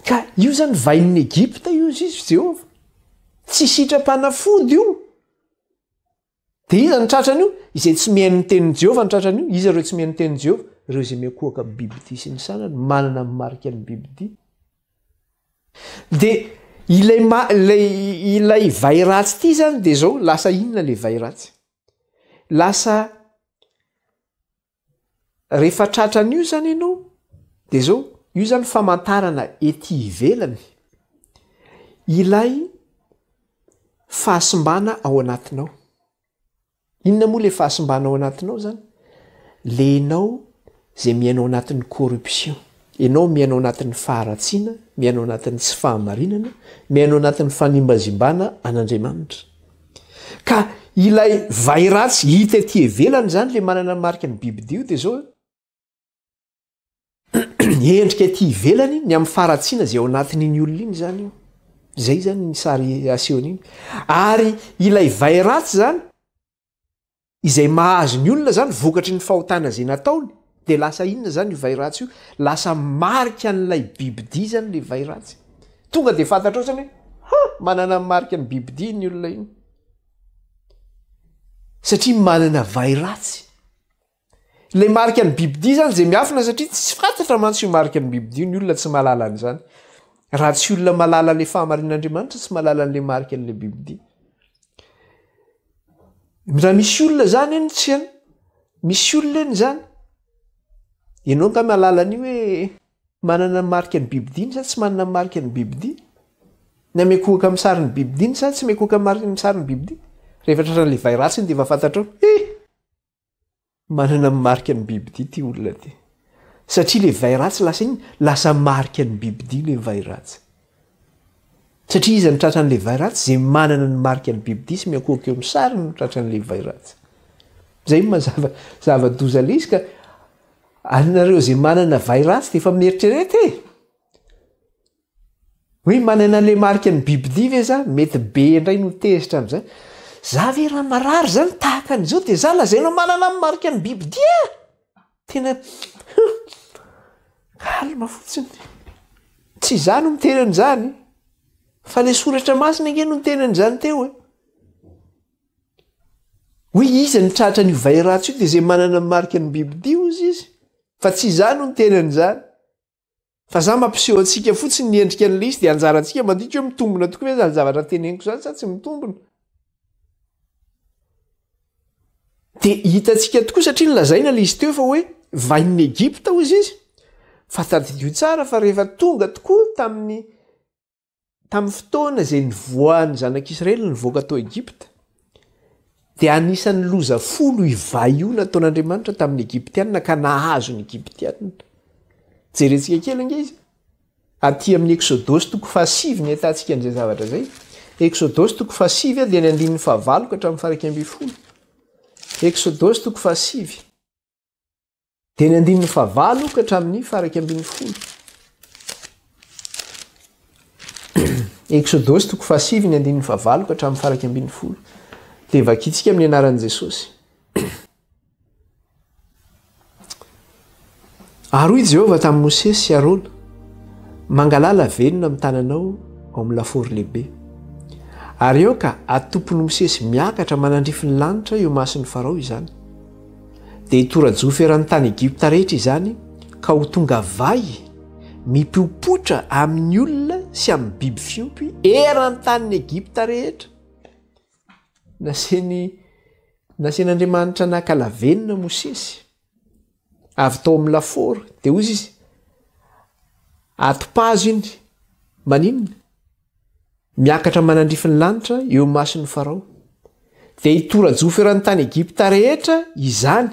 Ka io izany vain'ny Egypta io, hoy Jehovah. Tsy sitram-panafody io. Dia iza no tratra an'io? Izay tsy mihaino ny tenin'i Jehovah no tratra an'io. Iza ireo tsy mihaino ny tenin'i Jehovah? Ireo izay miankohoka amin'ny bibidia sy ny sanany, manana ny marikan'ny bibidia. Dia ilay, ilay, ilay vay ratsy ity izany dia izao, lasa inona ilay vay ratsy? Lasa Rehefa tratra an'io izany ianao dia izao, io izany famantarana ety ivelany ilay fahasimbana ao anatinao. Inona moa ilay fahasimbana ao anatinao izany? Le ianao izay miaina ao anatin'ny corruption, ianao miaina ao anatin'ny faharatsiana, miaina ao anatin'ny tsy fahamarinana, miaina ao anatin'ny fanimbazimbana an'Andriamanitra. Ka ilay vairas hita ety ivelany izany ilay manana ny marika ny bibidia io dia izao io endrika ety ivelany ny amin'ny faharatsiana izay ao anatin'iny olona iny izany io izay izany ny sary asehony iny ary ilay vairas izany Izay mahazo ny olona zany vokatry ny fahotana zay nataony de lasa inona zany io vay ratsy io? Lasa marika an'ilay bibidia zany le vay ratsy. Tonga de fantatrao zany hoe ha! manana ny marika ny bibidia iny olona iny. Satria manana vay ratsy. Le marika ny bibidia zany zay miafina satria tsy fantatra mantsy io marika ny bibidia io ny olona tsy mahalala an'izany. Raha tsy olona mahalala le fahamarinan'Andriamanitra tsy mahalala an'le marika an'le bibidia. Raha misy olona izany eny tsy eny, misy olona eny izany. Ianao angaha mahalala an'io hoe manana ny mariky ny bibidiany sa tsy manana ny mariky ny bibidiany? Na miankohoka amin'ny sarin'ny bibidiany sa tsy miankohoka amin'ny sarin'ny bibidiany? Rehefa tratran'ilay vay ratsy iny dia efa fantatrao, he! Manana ny marika ny bibidia ity olona ity. Satria ilay vay ratsy lasa iny, lasa marika ny bibidia ilay vay ratsy. Satria iza no tratra an'ilay vay ratsy? Izay manana ny marika ny bibidia sy miankohoka eo amin'ny sariny no tratra an'ilay vay ratsy. Izay no mazava zava-doza ilay izy ka anareo izay manana vay ratsy dia efa mieritrereta e! Hoe manana an'ilay marika ny Biblia ve za? Mety be indray no tezitra amin'izay. Za ve raha marary izany tahaka an'izao dia za lazaina manana ny marika ny Biblia? Tena calme fotsiny. Tsy za no miteny an'izany fa ilay soratra masina ange no niteny an'izany teo e. Hoe iza no tratra an'io vay ratsy io dia izay manana ny marika ny Biblia hozy izy fa tsy za no niteny an'izany. Fa za mampiseho antsika fotsiny ny endrika an'ilay izy dia anjarantsika mandinika hoe mitombina tokoa ve izany zavatra teneniko izany sa tsy mitombina. Dia hitantsika tokoa satria nilazaina ilay izy teo fa hoe vahin'ny Egypta hoy izy izy. Fa tadidio tsara fa rehefa tonga tokoa tamin'ny Tamin'ny fotoana izay nivoahan'ny Zanak'Israely nivoaka tao Egypta, dia anisan'ny loza folo ivaio nataon'Andriamanitra tamin'ny Egyptianina ka nahazo ny Egyptianina. Jerentsika kely ange izy. Aty amin'ny Eksodosy toko fahasivy ny ahitantsika an'izay zavatra izay. Eksodosy toko fahasivy dia ny andininy fahavalo ka hatramin'ny faharaika ambin'ny folo. Eksodosy toko fahasivy. Dia ny andininy fahavalo ka hatramin'ny faraika ambin'ny folo. Eksodosy toko fahasivy ny andininy fahavalo ka hatramin'ny faraika ambin'ny folo. Dia vakintsika amin'ny anaran'i Jesosy. Ary hoy Jehovah tamin'i Mosesy sy Arona, mangalala velona amin'ny tananao ao amin'ny lafaoro lehibe. Ary aoka atompon'i Mosesy miakatra manandrify ny lanitra eo mason'i Farao izany. dia hitora-jofy eran'ny tany Egypta rehetra izany ka ho tonga vay mipopotra amin'ny olona sy amin'ny biby fiompy eran'ny tanin'i Egypta rehetra. Naseny nasen'Andriamanitra naka lavenona Mosesy avy tao amin'ny lafaoro dia hozy izy atopazo iny maninona miakatra manandrify ny lanitra eo imason'i Farao, dia hitora-jofy eran'ny tany Egypta rehetra izany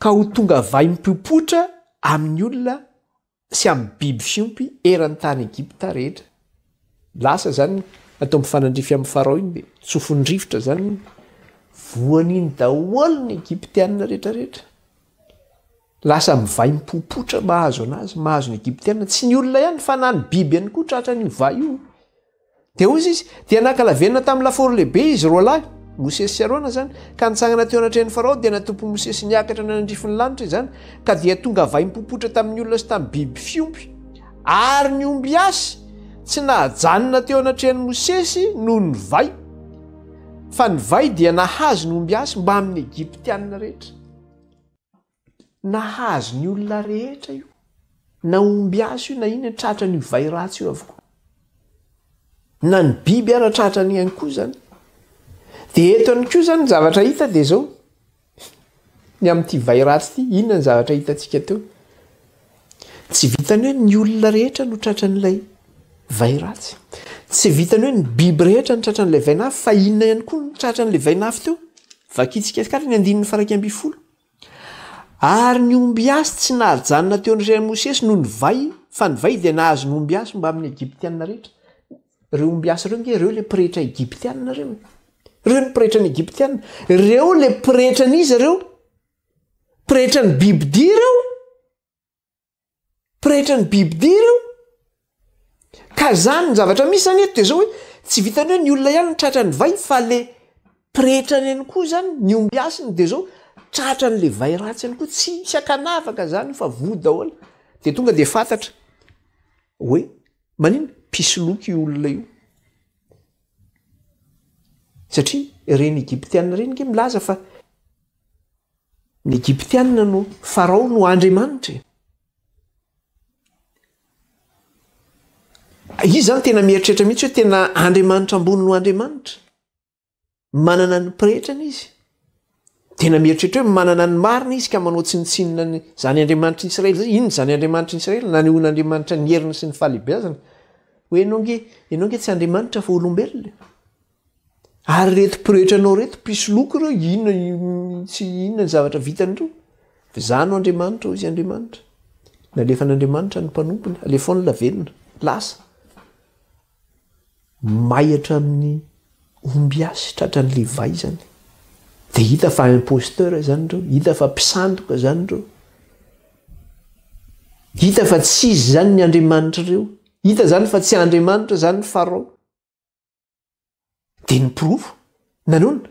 ka ho tonga vaim-popotra amin'ny olona sy amin'ny biby fiompy eran'ny tany Egypta rehetra. Lasa izany natao mifanandrify amin'i Farao iny, dia tsofin'ny rivotra izany voan'iny daholo ny Egyptiana rehetra rehetra. Lasa mivay mipopotra mahazo anazy, mahazo ny Egyptiana, tsy ny olona ihany fa na ny biby ihany koa tratra an'io vay io. Dia hozy izy, dia nankalavenona tamin'ny lafaoro lehibe izy roa lahy, Mosesy sy Arona izany, ka nitsangana teo anatrehan'i Farao, dia natopy Mosesy niakatra nanandrify ny lanitra izany, ka dia tonga vay mipopotra tamin'ny olona sy tamin'ny biby fiompy, ary ny ombiasy tsy nahajanona teo anatrehan'i Mosesy noho ny vay, fa ny vay dia nahazo ny ombiasy mbamin'ny Egyptiana rehetra. nahazo ny olona rehetra io na ombiasy io na ino e tratra ny vay ratsy io avokoa na ny biby ara tratra ny ihany koa zany de eto any koa zany ny zavatra hita de zao ny amin'ity vay ratsy ity inona ny zavatra hitantsika teo Tsy vitan'ny hoe ny olona rehetra no tratran'ilay vay ratsy. Tsy vitan'ny hoe ny biby rehetra no tratran'ilay vainafo, fa inona ihany koa no tratran'ilay vainafo teo? Vakintsika tsikaritry ny andininy faha iraika ambin'ny folo. Ary ny ombiasy tsy nahajanona teo amin'ny ren'i Mosesy noho ny vay, fa ny vay dia nahazo ny ombiasy mbamin'ny Egyptiana rehetra. Ireo ombiasy ireo ange ireo ilay pretra egyptiana ireo e! Ireo ny pretran'ny Egyptiana. Ireo ilay pretran'iza ireo? Pretra ny bibidia ireo. Pretra ny bibidia ireo. Ka zany ny zavatra misy zany eto de zao hoe tsy vitan'ny hoe ny olona ihany no tratra ny vay fa le pretra reny koa zany ny omby hasiny de zao tratra an'le vay ratsy ihany koa, tsisy ankanavaka zany io fa voa daholo. De tonga de fantatra hoe maninona? Mpisoloky io olona io. Satria reny egyptiana reny nge milaza fa. Ny Egyptianina no Farao no Andriamanitra e! Izy izany tena mieritreritra mihitsy hoe tena Andriamanitra ambony no Andriamanitra. Manana ny pretrany izy. Tena mieritreritra hoe manana ny marina izy ka manao tsinontsinona ny izany Andriamanitra Israely izany. Inona izany Andriamanitra Israely? Nanehoana Andriamanitra ny heriny sy ny fahalehibiazany. Hoe ianao nge, ianao nge tsy Andriamanitra fa olombelona e! Ary reto pretra-nao reto mpisoloky ireo inona tsy inona ny zavatra vitany ireo? V'zah no Andriamanitra hoy izy Andriamanitra. Nalefan'Andriamanitra ny mpanompony, alefaony la velona, lasa. May hatramin'ny ombiasy, tratran'ny levay izany. Dia hita fa imposteur izany ireo, hita fa mpisandoka izany ireo. Hita fa tsy izy izany ny Andriamanitr'ireo. Hita izany fa tsy Andriamanitra izany ny Farao. Dia ny porofo? Nanon?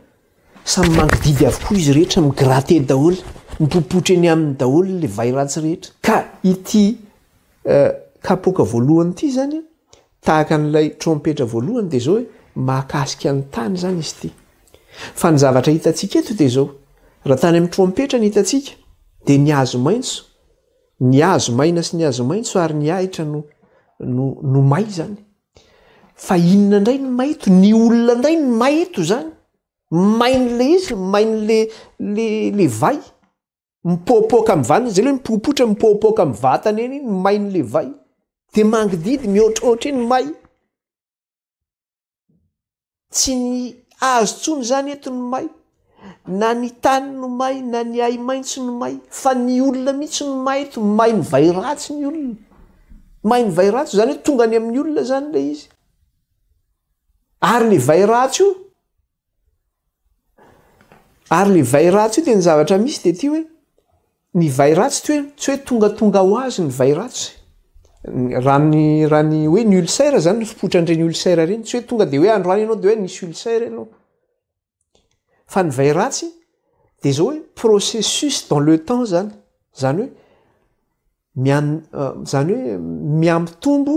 Samy mangididy avokoa izy rehetra, mi-gratter daholo, mipopotra eny aminy daholo ilay vay ratsy rehetra. Ka ity kapoaka voalohany ity izany, tahaka an'ilay trompetra voalohany, dia izao hoe, Mahakasika ny tany izany izy ity. Fa ny zavatra hitantsika eto dia izao, raha tany amin'ny trompetra ny hitantsika, dia ny hazo maitso, ny hazo maina sy ny hazo maitso ary ny ahitra no, no, no may izany. Fa inona indray ny maito? Ny olona indray no maito izany. Main' le izy, main' le le le vay. Mipoapoaka amin'ny vatany, izay le hoe mipopotra, mipoapoaka amin'ny vatany eny iny, main' le vay. Dia mangidihidy, mihoatrohoatra eny may. Tsy ny hazo intsony izany eto no may, na ny tany no may, na ny ahi-maitso no may, fa ny olona mihitsy no may eto. May mivay ratsy ny olona. May mivay ratsy, izany hoe tonga any amin'ny olona izany ilay izy. Ary ilay vay ratsy io, ary ilay vay ratsy io dia ny zavatra misy dia ity hoe, Ny vay ratsy tsy hoe tsy hoe tongatonga ho azy ny vay ratsy. Raha ny raha ny hoe ny ulcère zany ny fipotran'ireny ulcère ireny tsy hoe tonga dia hoe androany ianao dia hoe nisy ulcère ianao. Fa ny vay ratsy dia izao hoe processus dans le temps zany, zany hoe mian- zany hoe mihamitombo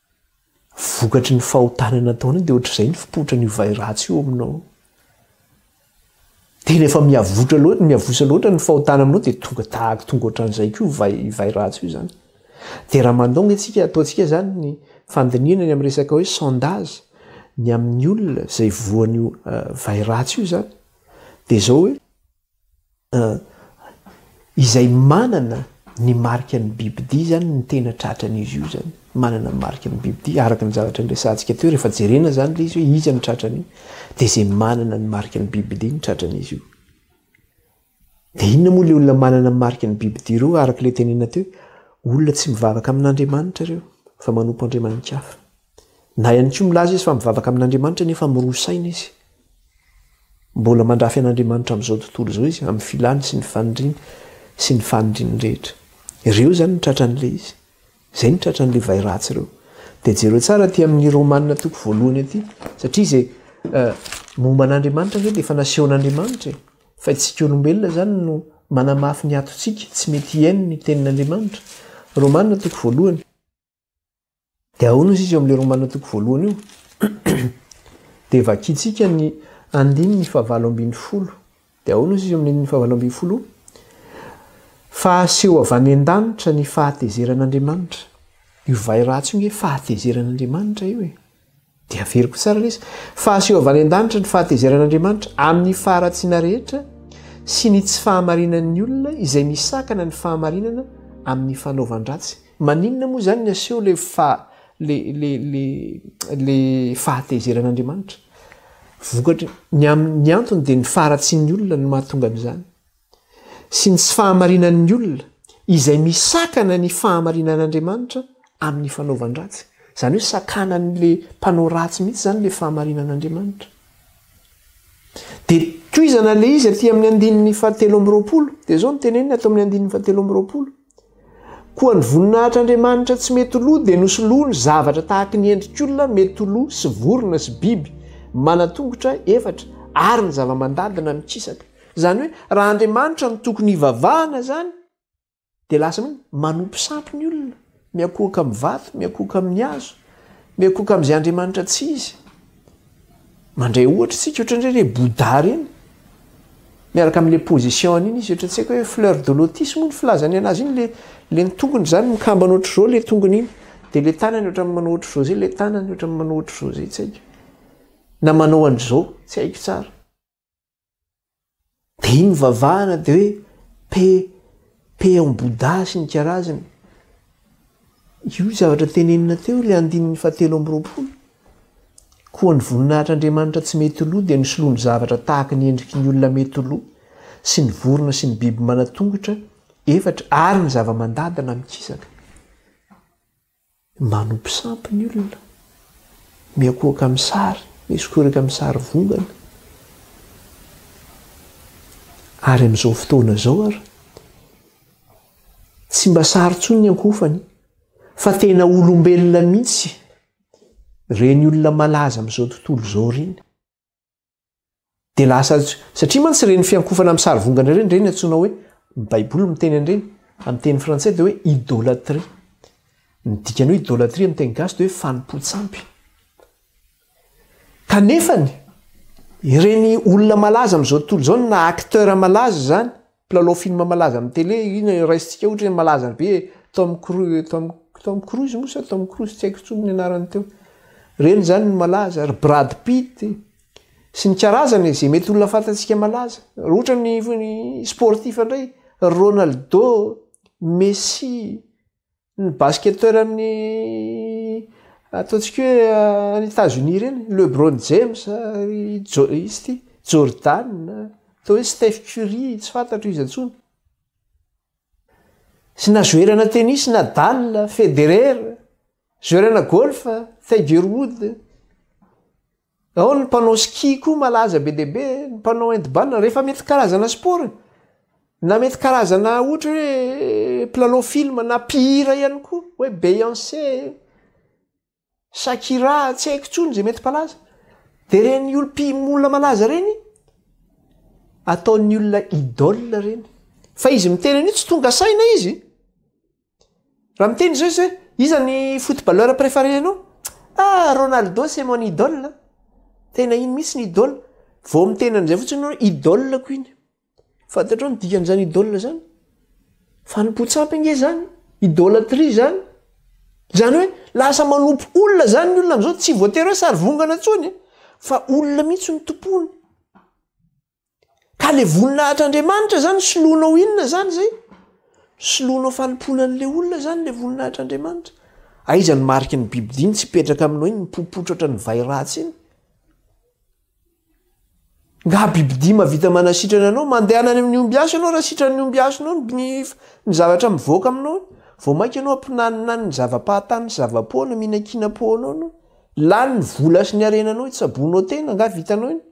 Vokatry ny fahotana nataonao dia ohatr'izay ny fipotran'io vay ratsy io ao aminao. Tena efa miavotra loatra, miavosa loatra ny fahotana aminao dia tonga tahaka tonga ohatran'izay koa io vay vay ratsy io izany. Dia raha mandoa anie isika ataontsika izany ny fandinihana ny amin'ny resaka hoe sondage ny amin'ny olona izay voan'io vay ratsy io izany dia izao hoe. Izay manana ny marika ny bibidia izany no tena tratran'izy io izany, manana ny marika ny bibidia, araka ny zavatra niresahantsika teo, rehefa jerena izany ilay izy hoe iza no tratran'io, dia izay manana ny marika ny bibidia no tratran'izy io. Dia inona moa ilay olona manana ny marika ny bibidia ireo, araka ilay tenenina teo hoe olona tsy mivavaka amin'Andriamanitra ireo fa manompo andriamani-kafa. Na ihany koa milaza izy fa mivavaka amin'Andriamanitra nefa miroa saina izy. Mbola mandrafy an'Andriamanitra amin'izao tontolo izao izy amin'ny filany sy ny faniriany sy ny faniriany rehetra. Ireo izany no tratran'ilay izy. Izay no tratran'ilay vay ratsy ireo. Dia jereo tsara aty amin'ny Romana toko voalohany aty satria izay momba an'Andriamanitra ve dia efa nasehon'Andriamanitra e. Fa itsika olombelona izany no manamafy ny atontsika tsy mety hihaino ny tenin'Andriamanitra. Romana toko voalohany. Dia ahoana ozy izy eo amin'ilay Romana toko voalohany io? Dia vakintsika ny andininy fahavalo ambin'ny folo. Dia ahoana ozy izy eo amin'ny andininy fahavalo ambin'ny folo? Fa aseho avy any an-danitra ny fahatezeran'Andriamanitra. Io vay ratsy io nge fahatezeran'Andriamanitra io e. Dia averiko tsara lesy fa aseho avy any an-danitra ny fahatezeran'Andriamanitra amin'ny faharatsiana rehetra sy ny tsy fahamarinan'ny olona izay misakana ny fahamarinana amin'ny fanaovan-dratsy. Maninona moa izany ny aseho ilay fa le le le le fahatezeran'Andriamanitra? Vokatry ny amin'ny ny antony dia ny faharatsian'ny olona no mahatonga an'izany. sy ny tsy fahamarinan'ny olona izay misakana ny fahamarinan'Andriamanitra amin'ny fanaovan-dratsy. Izany hoe sakanan'ilay mpanao ratsy mihitsy izany ilay fahamarinan'Andriamanitra. Dia tohizana ilay izy aty amin'ny andininy fahatelo amby roapolo. Dia izao no teneniny ato amin'ny andininy fahatelo amby roapolo. Koa ny voninahitr'Andriamanitra tsy mety lo dia nosoloany zavatra tahaky ny endrik'olona mety lo sy vorona sy biby manan-tongotra efatra ary ny zava-mandadina mikisaka. Izany hoe raha Andriamanitra no tokony hivavahana izany dia lasa hoe manompo sampy ny olona, miankohoka amin'ny vato, miankohoka amin'ny hazo, miankohoka amin'izay Andriamanitra tsy izy. Mandray ohatra isika ohatran'ireny hoe Bouddha ireny. Miaraka amin'ilay position-ny iny izy ohatra tsy haiko hoe fleur de lotus moa ny filazany anazy iny ilay ilay ny tongony izany mikambana ohatr'izao ilay tongony iny dia ilay tanany ohatran'ny manao ohatr'izao izay ilay tanany ohatran'ny manao ohatr'izao izay tsy haiko na manao an'izao tsy haiko tsara. Dia iny vavahana dia hoe pe peon bouddha sy ny karazany. Io zavatra tenenina teo ilay andininy fahatelo amby roapolo. Koa ny voninahitr'Andriamanitra tsy mety lo dia nisoloany zavatra tahaka ny endriky ny olona mety lo sy ny vorona sy ny biby manan-tongotra efatra ary ny zava-mandady na mikisaka. Manompo sampy ny olona, miakohoka amin'ny sary, misokorika amin'ny sarivongana. Ary amin'izao fotoana izao ary, tsy mba sary intsony ny ankohofany, fa tena olombelona mihitsy ireny olona malaza amin'izao tontolo izao ireny. Dia lasa satria mantsy ireny fiankofana amin'ny sarivongana ireny ireny antsoina hoe ny Baiboly miteny an'ireny amin'ny teny frantsay dia hoe idolatria. Ny dikan'ny hoe idolatria amin'ny teny gasy dia hoe fanompoan-tsampy. Kanefany, ireny olona malaza amin'izao tontolo izao na acteurs malaza izany, Mpilalao film malaza amin'ny télé, inona no raisintsika ohatra hoe malaza be e, Tom Cru, Tom, Tom Cruise moa sa Tom Cruise, tsy haiko intsony ny anarany teo. Ireny izany no malaza, ry Brad Pitt e, sy ny karazany e, izay mety olona fantatsika malaza. Raha ohatra ny, ny sportif indray, ry Ronaldo, Messi, Ny basketteur amin'ny ataontsika hoe any Etats Unis ireny, Lebron James, ry Jo- iza ity? Jordan, atao hoe Steph Curry, tsy fantatro iza intsony. Sy na zoerana tennis Nadal, Federer, zoerana golf, Tiger Woods. Ao ny mpanao ski koa malaza be dia be, ny mpanao handball, rehefa mety karazana sport e! Na mety karazana ohatra hoe mpilalao film na mpihira ihany koa hoe Beyoncé, Shakira, tsy haiko intsony izay mety mpalaza. Dia ireny olo- pi- olona malaza ireny, ataon'ny olona idole ireny. Fa izy miteny an'io tsy tonga saina izy. Raha miteny izao izy hoe iza ny footballeur préfare anao? ah Ronaldo c'est mon idole an! tena iny mihitsy ny idole, vao miteny an'izay fotsiny hoe idole ko iny, fantatrao ny dikan'izany idole zany? fanompoan-tsampy ange izany, idolatrie izany, izany hoe lasa manompo olona izany ny olona amin'izao, tsy voatery hoe sarivongana intsony fa olona mihitsy no tompoiny. Ka le voninahitra Andriamanitra zany soloanao inona zany zay? Soloanao fanompoana an'le olona zany le voninahitra Andriamanitra? Aiza ny mariky ny biby dimy tsy hipetraka aminao iny mipopotra ohatra ny vay ratsy iny? Nga biby dimy mahavita manasitrana anao? Mandehana any amin'ny ombiasy ianao raha sitran'ny ombiasy nao ny ny zavatra mivoaka aminao iny? Vao mainka ianao ampinaninany ny zava-pahatany sy zava-poana mihinankinam-po anao ianao? Lany ny vola sy ny harenanao hitsaboanao tena nga vitanao iny?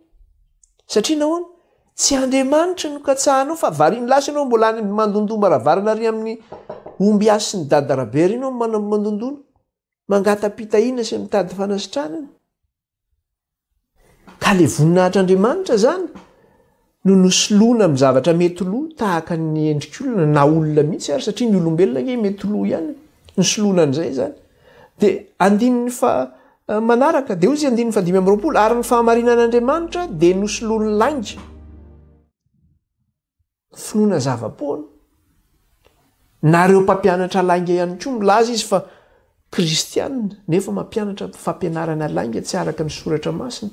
Satria nahoana? Tsy Andriamanitra no katsahanao fa variany lasa ianao mbola any amin'ny mandondoa maravarana ary amin'ny omby hasin'i Dada Rabert ianao no mandondona, mangata-pitahiana sy mitady fanasitranana. Ka ilay voninahitr'Andriamanitra izany no nosoloina amin'ny zavatra mety lo tahaka ny endrik'olona na olona mihitsy ary satria ny olombelona ange mety lo ihany no soloina an'izay izany. Dia andininy faha. Manaraka, Deozy andininy fahadimy amby roapolo, Ary ny fahamarinan'Andriamanitra dia nosoloany lainga. Finoana zava-poana. Nareo mpampianatra lainga ihany koa, milaza izy fa kristiana, nefa mampianatra fampianarana lainga tsy araka ny Soratra Masina.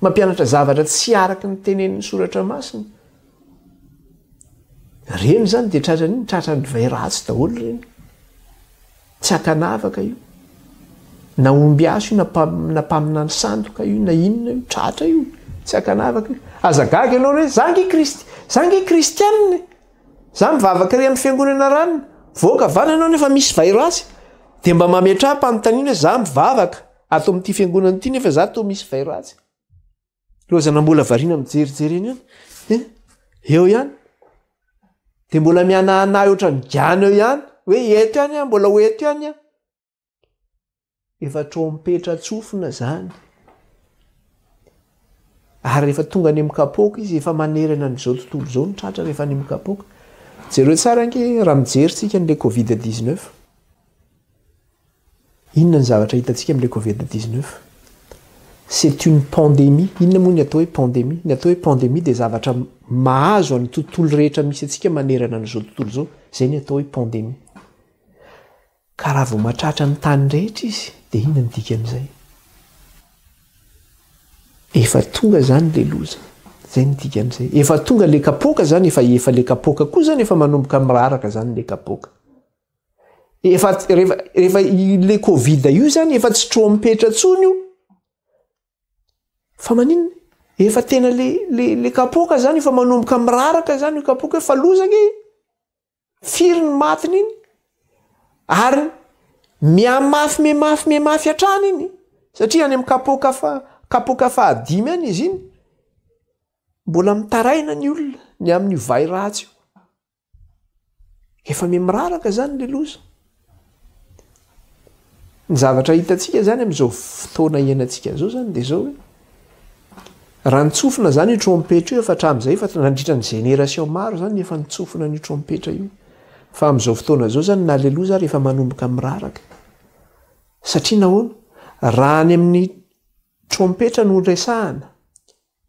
Mampianatra zavatra tsy araka ny tenenin'ny Soratra Masina. Ireny izany dia tratran'inona? Tratran'ny divay ratsy daholo ireny. Tsy ankanavaka io, na ombiasy io, na na mpaminany sandoka io, na inona io, tratra io, tsy ankanavaka io. Aza gaga ianao re, za nge krist, za nge kristianina e, za mivavaka re amin'ny fiangonana ranona, mivoaka avy any ianao nefa misy virus, dia mba mametraha-panontaniana hoe za mivavaka ato amin'ity fiangonana ity nefa za toa misy virus. lozana mbola variana mijerijery eny any eo ihany de mbola mianahanahy ohatrany gana eo ihany hoe eto ihany a mbola ho eto ihany a efa trompetra tsofina zany ary rehefa tonga any amikapoaka izy efa manerana an'izao tontolo izao ny tratra rehefa any amikapoaka jereo tsara ange raha mijery tsika an'la covid 19 Inona ny zavatra hitantsika amin'ilay covid dix neuf? C'est une pandémie. Inona moa ny atao hoe pandémie? Ny atao hoe pandémie dia zavatra mahazo an'ny tontolo rehetra misy antsika manerana an'izao tontolo izao. Izay ny atao hoe pandémie. Ka raha vao mahatratra ny tany rehetra izy dia inona ny dikan'izay? Efa tonga izany ilay loza. Izay ny dikan'izay. Efa tonga ilay kapoaka izany, efa efa ilay kapoaka koa izany efa manomboka miraraka izany ilay kapoaka. efa rehefa rehefa le covid io zany efa tsy trompetra tsony io fa maninona efa tena le le le kapoka zany efa manomboka miraraka zany io kapoka efa lozana e firy ny matiny iny ary mihamafy mihamafy mihamafy hatrany iny satria any amin'ny kapoka fa kapoka fahadimy any izy iny mbola mitaraina ny olona ny amin'io vay ratsy io Efa miha-miraraka izany ilay loza. Ny zavatra hitantsika izany amin'izao fotoana iainantsika izao izany dia izao hoe raha nitsofina izany io trompetra io efa hatramin'izay efa nandritra ny génération maro izany efa nitsofina an'io trompetra io. Fa amin'izao fotoana izao izany na ilay loza ary efa manomboka miraraka. Satria nahoana? Raha any amin'ny trompetra no resahana,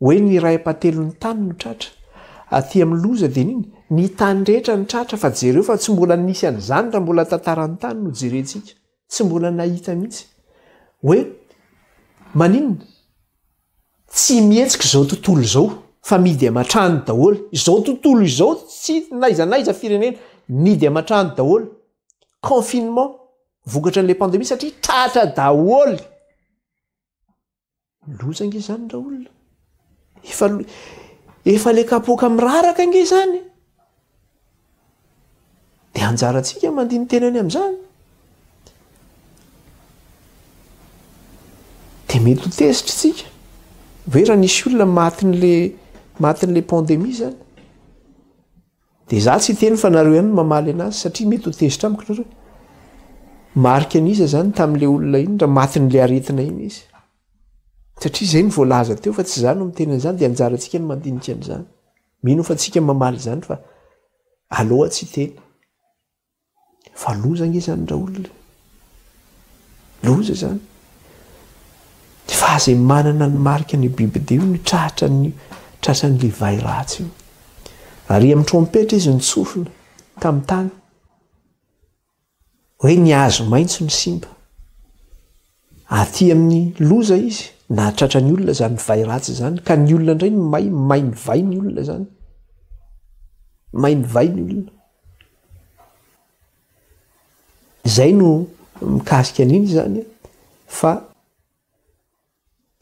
Hoe ny iray ampatelo ny tany no tratra. Aty amin'ny loza dia ny ny tany rehetra no tratra fa jereo fa tsy mbola nisy an'izany raha mbola tantaran'ny tany no jerentsika. Tsy mbola nahita mihitsy. Hoe maninona? Tsy mihetsika izao tontolo izao fa midy aman-trano daholo. Izao tontolo izao tsy n'aiza n'aiza firenena. Midy aman-trano daholo. Confinement vokatran'ilay pandemie satria tratra daholo. Loza nge zany ra olona. Efa efa le kapoaka miraraka nge zany. De anjarantsika mandiny tena any amzany. De mety ho tezitra tsika. Hoe ra nisy olona matin'le matin'le pandemie zany. Dia za tsy hiteny fa nareo ihany no mamaly anazy satria mety ho tezitra amiko nareo. Marika an'iza zany tamin'le olona iny raha matin'le aretina iny izy? Satria zay no voalaza teo fa tsy za no miteny an'izany dia anjarantsika ny mandinika an'izany. Mino aho fa tsika mamaly izany fa aloha tsy hiteny. Fa loza ange izany raolona e! Loza izany! Ny faha zay manana ny marika ny biby dia io no tratra ny tratran'ny levahy ratsy io. Ary amin'ny trompetra izy nitsofina tamin'ny tany hoe ny hazo maitso no simba. Aty amin'ny loza izy nahatratra ny olona izany vay ratsy izany ka ny olona indray no may, may ny vay ny olona izany. May ny vay ny olona. Izay no mikasika an'iny izany fa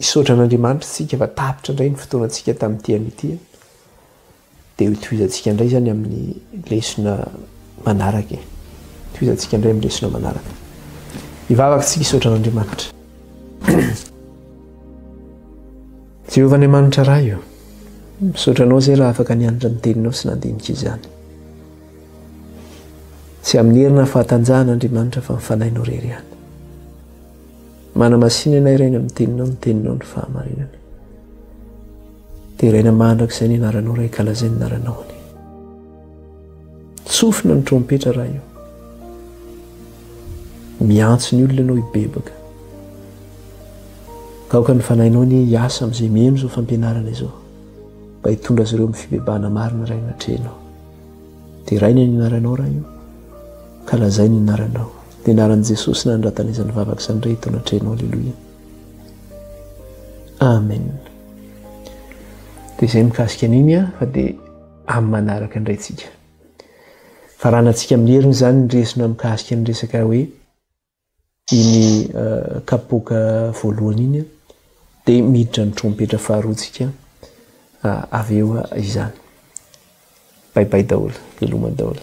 Misaotra an'Andriamanitra isika fa tapitra indray ny fotoanantsika tamin'ity anio ity a! Dia hotohizantsika indray izany amin'ny lesona manaraka e! Hotohizantsika indray amin'ny lesona manaraka. Hivavaka isika hisaotra an'Andriamanitra. Jehovah Andriamanitra Ray o, misaotra anao izay raha afaka nianatra ny teninao sy nandinika izany. Tsy amin'ny herina fahatanjahana Andriamanitra fa ny fanahinao rery ihany. Manamasina anay Rainy amin'ny teninao ny teninao ny fahamarinana. Deraina mandrakizay ny anaranao Ray kalazay ny anaranao anie. Tsofina ny trompetra raha io. Miantso ny olona ianao hibebaka. Taoka ny fanahinao anie hiasa amin'izay mihaino izao fampianarana izao mba hitondra azy ireo amin'ny fibebahana marina Ray anatrehanao. Deraina ny anaranao raha io. Kalazay ny anaranao. Ny anaran'i Jesosy nanondratana izany vavaka izany indray eto anatrehanao aleloia amen dia izay mikasika an'iny a fa dia amin'ny manaraka indray tsika faranantsika amin'ny heriny izany ny resona mikasika ny resaka hoe iny euh, kapoka voalohany iny dia miditra ny trompetra faharoantsika euh, avy eo izany baibai daholo veloma daholo